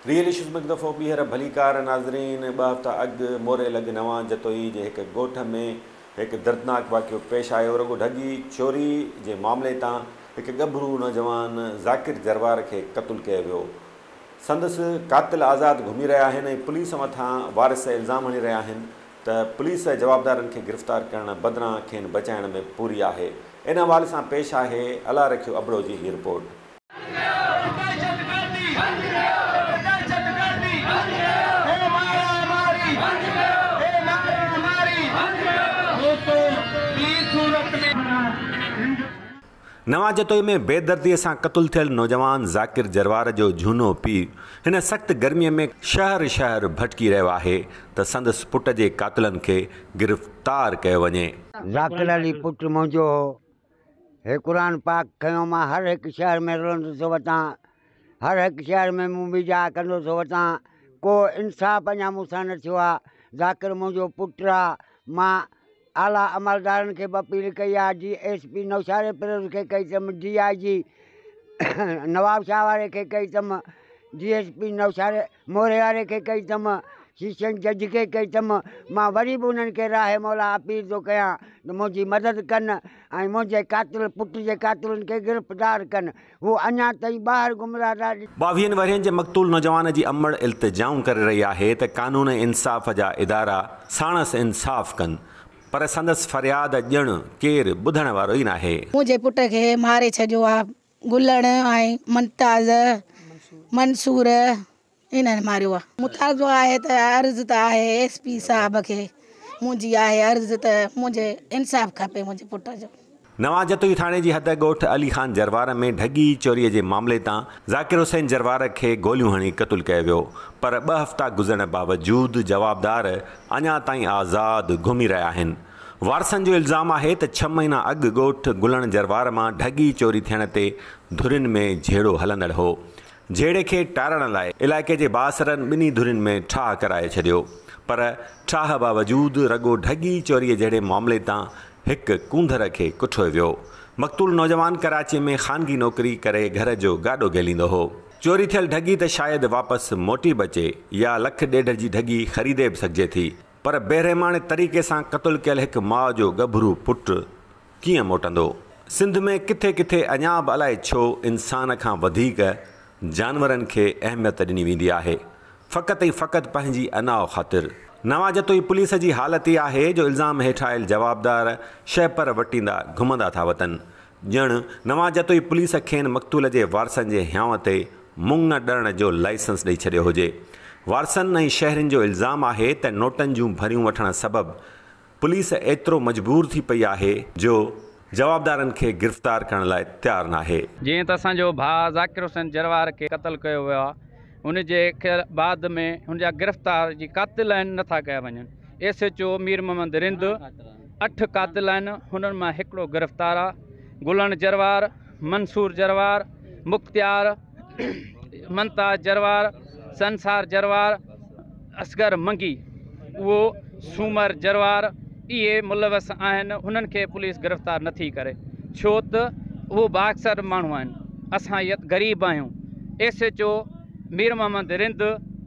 Real issues ۾ هڪ دفعو ٻيهر ڀليڪار ناظرين ٻه هفتا اڳ موري لڳ نوان جتوئي جي هڪ ڳوٺ ۾ هڪ دردناڪ واقعو پيش آيو رڳو ڍڳي چوري جي معاملي تان هڪ ڳڀرو نوجوان ذاڪر جروار کي قتل ڪيو ويو سندس قاتل آزاد گهمي رهيا آهن ۽ پوليس مٿان وارث الزام هڻي رهيا آهن ته پوليس جوابدارن کي گرفتار ڪرڻ بدران کين بچائڻ ۾ پوري آهي ان حوالي سان پيش آهي الله رکيو ابڙو جي هي رپورٽ. نوان جتوئي ۾ بي دردي سان قتل ٿيل نوجوان ذاڪر جروار جو جهونو پيء هن سخت گرمي ۾ شهر شهر ڀٽڪي رهيو آهي ته سندس پٽ جي قاتلن کي گرفتار ڪيو وڃي. ذاڪر علي پٽ منهنجو هو. هي قرآن پاڪ کنيو مان هر هڪ شهر ۾ رلندو ٿو وتان. هر هڪ شهر ۾ مون بيجاء ڪندو ٿو وتان. ڪو انصاف اڃا مون سان نه ٿيو آ. ذاڪر منهنجو پٽ آ. مان اعليٰ عملدارن کي به اپيل ڪئي I G S P Naushahro Feroze کي ڪئي تم ڊي آء جي نوابشاهه واري کي ڪئي تم D S P Naushahro Moro واري کي ڪئي تم سيشن جج کي ڪئي تم مان وري به انهن کي راهي مولا اپيل ٿو ڪيان ته منهنجي مدد ڪن ۽ منهنجي قاتل پٽ جي قاتلن کي گرفتار ڪن هو اڃا تائين ٻاهر گمراهه نه ڏٺو. ٻاويهن ورهين جي مقتول نوجوان جي امڙ التجائون ڪري رهي آهي ته قانون انصاف جا ادارا ساڻس انصاف ڪن پر سندس فرياد ڄڻ ڪير ٻڌڻ وارو ئي ناهي. منهنجي پٽ کي ماري ڇڏيو آ گلڻ ۽ منتاز منصور. انهن ماريو آ. مطالبو آهي ته عرض ته آهي ايس پي صاحب کي منهنجي آهي عرض ته منهنجي انصاف کپي منهنجي پٽ جو. نواز جتوئي ٿاڻي جي حد ڳوٺ علي خان جروار ۾ ڍڳي چوري جي معاملي تان ذاڪر حسين جروار کي گوليون هڻي قتل ڪيو ويو پر ٻه هفتا گذرڻ باوجود جوابدار اڃا تائين آزاد گهمي رهيا آهن وارثن جو الزام آهي ته ڇهه مهينا اڳ ڳوٺ گلڻ جروار مان ڍڳي چوري ٿيڻ تي ڌرين ۾ جهيڙو هلندڙ هو جهيڙي کي ٽارڻ لاء علائقي جي بااثرن ٻنهي ڌرين ۾ ٺاهه ڪرائي ڇڏيو پر ٺاهه باوجود رڳو ڍڳي چوري جهڙي معاملي تان هڪ ڪونڌر کي ڪٺوي ويو. مقتول نوجوان ڪراچي ۾ خانگي نوڪري ڪري گهر جو گاڏو گهليندو هو. چوري ٿيل ڍڳي ته شايد واپس موٽي به اچي يا لک ڏيڍ جي ڍڳي خريدي به سگهجي ٿي پر بيرحماڻي طريقي سان قتل ڪيل هڪ ماء جو ڳڀرو پٽ ڪيئن موٽندو؟ سنڌ ۾ ڪٿي ڪٿي اڃا به الائي ڇو انسان کان وڌيڪ جانورن کي اهميت ڏني ويندي آهي فقط ۽ فقط پنهنجي انا خاطر. نوان جتوئي پوليس جي حالت ئي آهي جو الزام هيٺ آيل جوابدار شهپر وٽيندا گهمندا ٿا وتن ڄڻ نوان جتوئي پوليس کين مقتول جي وارثن جي هيانء تي مڱ ڏرڻ جو لائسنس ڏئي ڇڏيو هجي وارثن ۽ شهرين جو الزام آهي ته نوٽن جون ڀريون وٺڻ سبب پوليس ايترو مجبور ٿي پئي آهي جو جوابدارن کي گرفتار ڪرڻ لاء تيار ناهي. جيئن ته اسان جو ڀاء ذاڪر حسين جروار کي قتل ڪيو ويو آهي ان جي بعد ۾ هن جا گرفتار جي قاتل آهن نه ٿا ڪيا وڃن S H O Mir Muhammad Rind اٺ قاتل آهن هنن مان هڪڙو گرفتار آهي گلڻ جروار منصور جروار مختيار ممتاز جروار، سنسار جروار، اصغر منگي و سومر جروار اهي ملوث آهن انهن کي پوليس گرفتار نه ٿي ڪري ڇو ته اهو بااڪثر ماڻهو آهن اسان يت غريب آهيون S H O Mir Muhammad Rind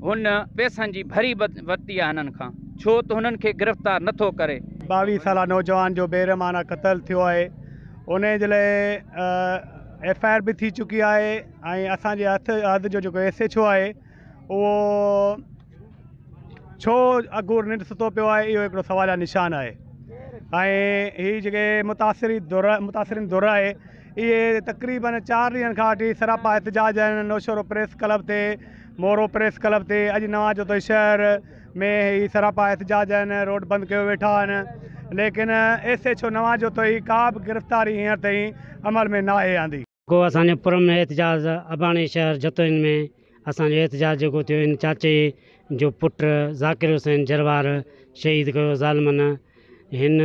هن پيسن جي ڀري ورتي آهي هنن کان ڇو ته هنن کي گرفتار نه ٿو ڪري. ٻاويهه سالا نوجوان جو بيرحمانه قتل ٿيو آهي انهي جي لاء ايف آء آر به ٿي چڪي آهي ۽ اسان جي هٿ حد جو جيڪو ايس ايڇ او آهي اهو ڇو اگهور ننڊ ستو پيو آهي اهو هڪڙو سوال جا نشان آهي ۽ هي جيڪي متاثري دور متاثرين دور آهي اهي تقريبن چار ڏينهن کان وٺي سراپا احتجاج آهن نوشهرو پريس ڪلب تي مورو پريس ڪلب تي اڄ نواز جو شهر ۾ هي سراپا احتجاج آهن روڊ بند ڪيو ويٺا آهن ليڪن ايس ايڇ او نواز جو تو هي ڪا به گرفتاري هينئر تائين عمل ۾ ناهي آندي. گو اسان جو پر امن احتجاج اباڻي شهر جتوئين ۾ اسان جو احتجاج جيڪو ٿيو ان چاچي جو پٽ ذاڪر حسين جروار شهيد ڪيو ظالمن هن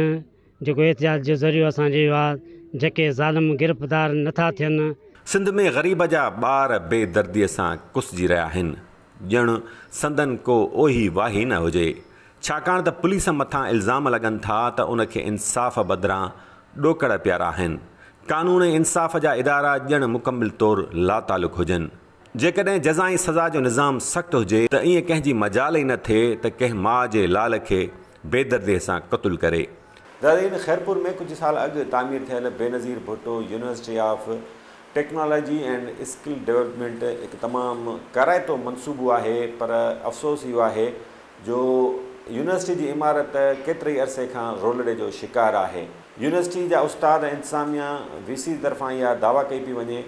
جيڪو احتجاج جو ذريعو اسان جو اهو آ جيڪي ظالم گرفتار نه ٿا ٿين. سنڌ ۾ غريب جا ٻار بي دردي سان ڪسجي رهيا آهن ڄڻ سندن ڪو اوهي واهي نه هجي ڇاڪاڻ ته پوليس مٿان الزام لڳن ٿا ته ان کي انصاف بدران ڏوڪڙ پيارا آهن قانون ۽ انصاف جا ادارا ڄڻ مڪمل طور لاتعلق هجن جيڪڏهن جزا ۽ سزا جو نظام سخت هجي ته ائين ڪنهن جي مجال ئي نه ٿئي ته ڪنهن ماء جي لال کي بيدرديء سان قتل ڪري. زرين، خيرپور ۾ ڪجهه سال اڳ تعمير ٿيل Benazir Bhutto university of technology and skill development هڪ تمام ڪارائتو منصوبو آهي پر افسوس اهو آهي جو يونيورسٽي جي عمارت ڪيتري عرصي کان رولڙي جو شڪار آهي. يونيورسٽي جا استاد ۽ انتظاميا وي سي طرفان اها دعويٰ ڪئي پئي وڃي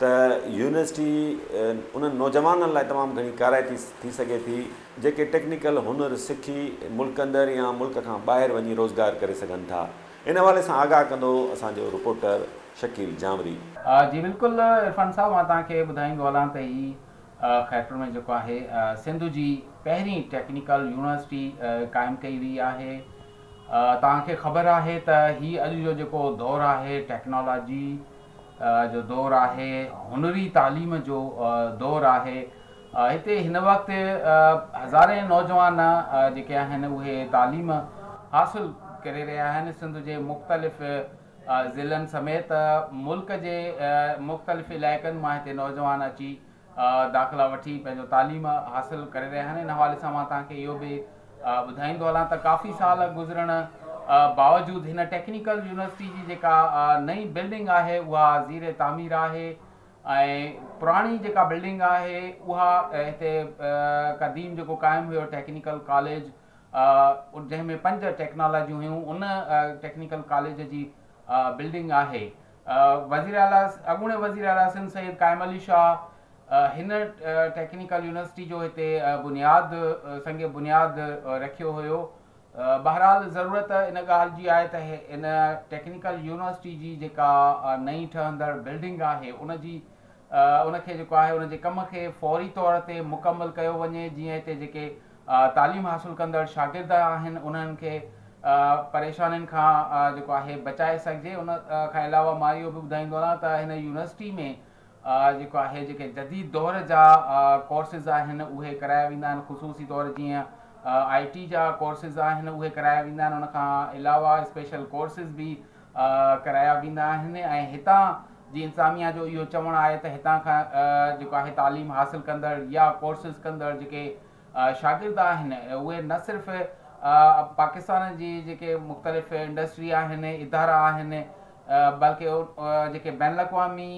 ته يونيورسٽي انهن نوجوانن لاء تمام گهڻي ڪارائتي ٿي سگهي ٿي، جيڪي ٽيڪنيڪل هنر سکي ملڪ اندر يا ملڪ کان ٻاهر وڃي روزگار ڪري سگهن ٿا. ان حوالي سان آگاهه ڪندو اسان جو رپورٽر شڪيل جانوري. جي بلڪل عرفان صاحب مان توهان کي ٻڌائيندو هلان ته هي خيرپور ۾ جيڪو آهي سنڌ جي پهرين ٽيڪنيڪل يونيورسٽي قائم ڪئي وئي آهي توهان کي خبر آهي ته هي اڄ جو جيڪو دور آهي ٽيڪنالاجي جو دور آهي، هنري تعليم جو دور آهي، هتي هن وقت هزارين نوجوان جيڪي آهن اهي تعليم حاصل ڪري رهيا آهن، سنڌ جي مختلف ضلعن سميت ملڪ جي مختلف علائقن مان هتي نوجوان اچي داخلا وٺي پنهنجو تعليم حاصل ڪري رهيا آهن ان حوالي سان مان توهان کي اهو به ٻڌائيندو هلان ته ڪافي سال گذرڻ باوجود هن ٽيڪنيڪل يونيورسٽي جي جيڪا نئين بلڊنگ آهي اها زير تعمير آهي ۽ پراڻي جيڪا بلڊنگ آهي اها هتي قديم جيڪو قائم هيو ٽيڪنيڪل ڪاليج جنهن ۾ پنج ٽيڪنالاجيون هيون ان ٽيڪنيڪل ڪاليج جي بلڊنگ آهي وزيراعليٰ اڳوڻي وزيراعليٰ سنڌ سيد قائم علي شاهه هن ٽيڪنيڪل يونيورسٽي جو هتي بنياد سنگ بنياد رکيو هيو بهرحال ضرورت ان ڳالهه جي آهي ته ان ٽيڪنيڪل يونيورسٽي جي جيڪا نئين ٺهندڙ بلڊنگ آهي ان جي ان کي جيڪو آهي ان جي ڪم کي فوري طور تي مڪمل ڪيو وڃي جيئن هتي جيڪي تعليم حاصل ڪندڙ شاگرد آهن انهن کي پريشانين کان جيڪو آهي بچائي سگهجي ان کان علاوه مان اهو به ٻڌائيندو هلان ته هن يونيورسٽي ۾ جيڪو آهي جيڪي جديد دور جا ڪورسز آهن اهي ڪرايا ويندا آهن خصوصي طور جيئن آئي ٽي جا ڪورسز آهن اهي ڪرايا ويندا آهن ان کان علاوه اسپيشل ڪورسز به ڪرايا ويندا آهن ۽ هتان جي انتظاميا جو اهو چوڻ آهي ته هتان کان جيڪو آهي تعليم حاصل ڪندڙ يا ڪورسز ڪندڙ جيڪي شاگرد آهن اهي نه صرف پاڪستان جي جيڪي مختلف انڊسٽري آهن ادارا آهن بلڪه جيڪي بين الاقوامي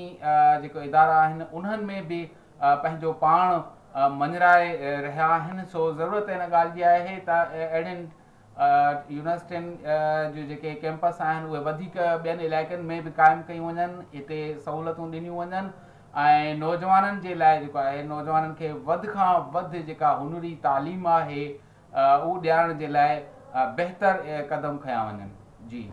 جيڪي ادارا آهن انهن ۾ به پنهنجو پاڻ مڃرائي رهيا آهن سو ضرورت ان ڳالهه جي آهي ته اهڙين يونيورسٽين جون جيڪي ڪيمپس آهن اهي وڌيڪ ٻين علائقن ۾ به قائم ڪيون وڃن هتي سهولتون ڏنيون وڃن ۽ نوجوانن جي لاء جيڪو آهي نوجوانن کي وڌ کان وڌ جيڪا هنري تعليم آهي اهو ڏيارڻ جي لاء بهتر قدم کنيا وڃن جي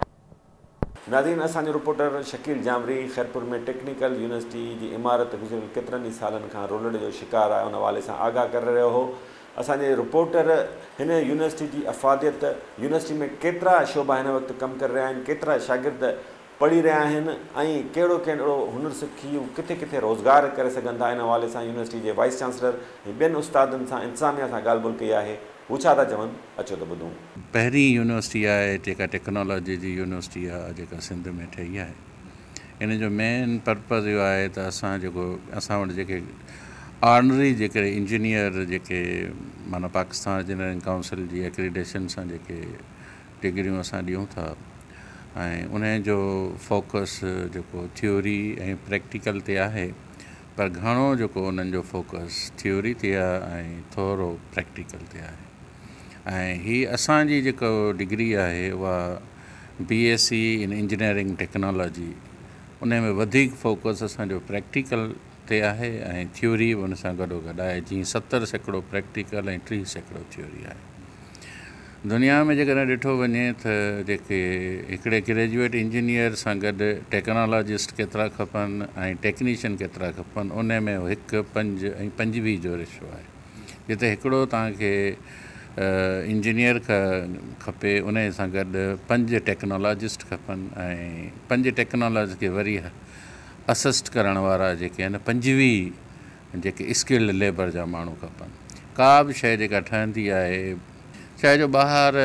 ناظرين اسان جو reporter Shakeel Jamri Khairpur ۾ technical university جي عمارت گذريل ڪيترن ئي سالن کان رولڙ جو شڪار آهي ان حوالي سان آگاهه ڪري رهيو هو اسان جي رپورٽر هن يونيورسٽي جي افاديت يونيورسٽي ۾ ڪيترا شعبا هن وقت ڪم ڪري رهيا آهن ڪيترا شاگرد پڙهي رهيا آهن ۽ ڪهڙو ڪهڙو هنر سکي هو ڪٿي ڪٿي روزگار ڪري سگهن ٿا ان حوالي سان يونيورسٽي جي وائيس چانسلر ۽ ٻين استادن سان انتظاميا سان ڳالهه ٻولهه ڪئي آهي هو ڇا ٿا چون اچو ته ٻڌون. پهرين يونيورسٽي آهي جيڪا ٽيڪنالاجي جي يونيورسٽي آهي جيڪا سنڌ ۾ ٺهي آهي ان جو مين پرپز اهو آهي ته اسان جيڪو اسان وٽ جيڪي آرڊنري جيڪي انجنيئر جيڪي معنيٰ پاڪستان انجنيئرنگ ڪائونسل جي اڪريڊيشن سان جيڪي ڊگريون اسان ڏيون ٿا ۽ ان جو فوڪس جيڪو ٿيوري ۽ پريڪٽيڪل تي آهي پر گهڻو جيڪو انهن جو فوڪس ٿيوري تي آهي ۽ ٿورو پريڪٽيڪل تي آهي ۽ هي اسان جي جيڪو ڊگري آهي اها B S C in engineering technology انهي ۾ وڌيڪ فوڪس اسان جو پريڪٽيڪل تي آهي ۽ ٿيوري به ان سان گڏو گڏ آهي جيئن ستر سيڪڙو پريڪٽيڪل ۽ ٽيهه سيڪڙو ٿيوري آهي. دنيا ۾ جيڪڏهن ڏٺو وڃي ته جيڪي هڪڙي گريجوئيٽ انجنيئر سان گڏ ٽيڪنالاجسٽ ڪيترا کپن ۽ ٽيڪنيشن ڪيترا کپن ان ۾ اهو هڪ پنج ۽ پنجويهه جو ريشو آهي جتي هڪڙو توهان کي انجنيئر کپي ان سان گڏ پنج ٽيڪنالاجسٽ کپن ۽ پنج ٽيڪنالاجسٽ کي وري اسسٽ ڪرڻ وارا جيڪي آهن پنجويهه جيڪي اسڪلڊ ليبر جا ماڻهو کپن ڪا به شيء جيڪا ٺهندي آهي چاهي جو ٻاهر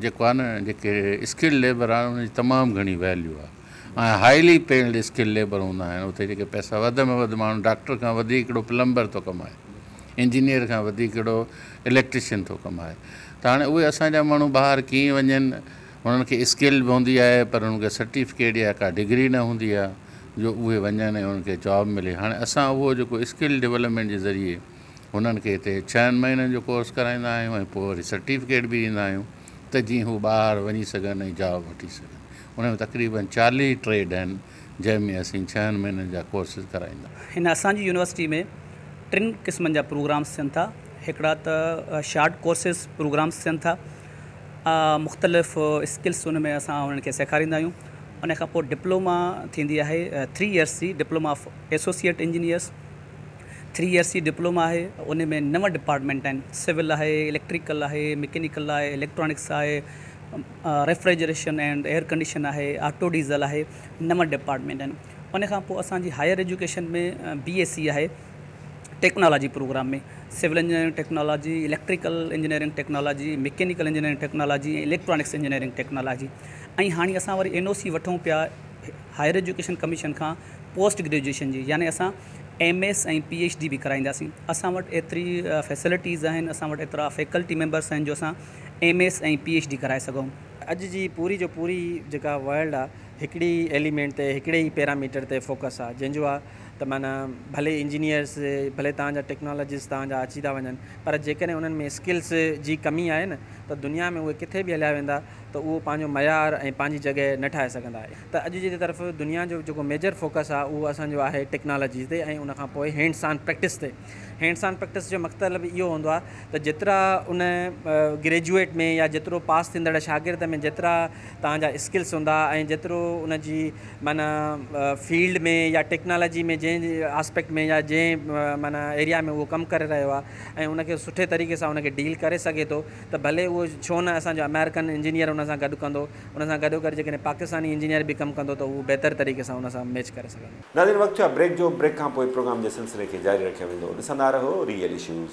جيڪو آهي نه جيڪي اسڪلڊ ليبر آهن ان جي تمام گهڻي ويليو آهي ۽ هائلي پيلڊ اسڪلڊ ليبر هوندا آهن اتي جيڪي پئسا وڌ ۾ وڌ ماڻهو ڊاڪٽر کان وڌيڪ ڪهڙو پلمبر ٿو ڪمائي انجنيئر کان وڌيڪ ڪهڙو اليڪٽريشن ٿو ڪمائي ته هاڻي اهي اسان جا ماڻهو ٻاهر ڪيئن وڃن انهن کي اسڪل به هوندي آهي پر انهن کي سرٽيفڪيٽ يا ڪا ڊگري نه هوندي آهي جو اهي وڃن ۽ انهن کي جاب ملي هاڻي اسان اهو جيڪو اسڪل ڊولپمينٽ جي ذريعي هنن کي هتي ڇهن مهينن جو ڪورس ڪرائيندا آهيون ۽ پوء وري سرٽيفڪيٽ به ڏيندا آهيون ته جيئن هو ٻاهر وڃي سگهن ۽ جاب وٺي سگهن انهن ۾ تقريبن چاليهه ٽريڊ آهن جنهن ۾ اسين ڇهن مهينن جا ڪورسز ڪرائيندا. هن اسان جي يونيورسٽي ۾ ٽن قسمن جا پروگرامز ٿين ٿا هڪڙا ته شارٽ ڪورسز پروگرامز ٿين ٿا مختلف اسڪلس ان ۾ اسان انهن کي سيکاريندا آهيون ان کان پوء ڊپلوما ٿيندي آهي ٿري ايئرس جي diploma of associate engineers three years جي ڊپلوما آهي ان ۾ نو ڊپارٽمينٽ آهن سول آهي اليڪٽريڪل آهي مڪينيڪل آهي اليڪٽرانڪس آهي ريفريجريشن اينڊ ايئر ڪنڊيشن آهي، آٽو ڊيزل آهي، نو ڊپارٽمينٽ آهن. ان کان پوء اسان جي higher education ۾ B S C آهي technology programme ۾، civil engineering technology, electrical engineering technology, mechanical engineering technology ۽ electronics engineering technology ۽ هاڻي اسان وري اين او سي وٺون پيا هائير ايجوڪيشن ڪميشن کان پوسٽ گريجوئيشن جي يعني اسان M S ۽ P H D به ڪرائينداسين. اسان وٽ ايتري فيسلٽيز آهن، اسان وٽ ايترا فيڪلٽي ميمبرس آهن جو اسان M S ۽ P H D ڪرائي سگهئون. اڄ جي پوري جو پوري جيڪا ورلڊ آ هڪڙي ئي ايليمينٽ تي هڪڙي ئي پيراميٽر تي فوڪس آ جنهن جو آ ته معنيٰ ڀلي انجنيئرس ڀلي توهان جا ٽيڪنالاجسٽ توهان جا اچي ٿا وڃن پر جيڪڏهن انهن ۾ اسڪلس جي ڪمي آهي نه ته دنيا ۾ اهي ڪٿي به هليا ويندا ته اهو پنهنجو معيار ۽ پنهنجي جڳهه نه ٺاهي سگهندا. ته اڄ جي طرف دنيا جو جيڪو ميجر فوڪس آ اهو اسان جو آهي ٽيڪنالاجي تي ۽ ان کان پوء هينڊس آن پريڪٽس تي. هينڊس آن پريڪٽس جو مقتلب اهو هوندو آهي ته جيترا ان گريجوئيٽ ۾ يا جيترو پاس ٿيندڙ شاگرد ۾ جيترا توهان جا اسڪلس هوندا ۽ جيترو ان جي معنيٰ فيلڊ ۾ يا ٽيڪنالاجي ۾ جنهن آسپيڪٽ ۾ يا جنهن معنيٰ ايريا ۾ اهو ڪم ڪري رهيو آهي ۽ ان کي سٺي طريقي سان ان کي ڊيل ڪري سگهي ٿو ته ڀلي اهو ڇو نه اسان جو امريڪن انجنيئر ان سان گڏ ڪندو ان سان گڏو گڏ جيڪڏهن پاڪستاني انجنيئر به ڪم ڪندو ته اهو بهتر طريقي سان ان سان ميچ ڪري سگهندو. ناظرين وقت ٿيو آهي بريڪ جو بريڪ کان پوء پروگرام جي سلسلي کي جاري رکيو ويندو ڏسندا رهو ريئل ايشوز.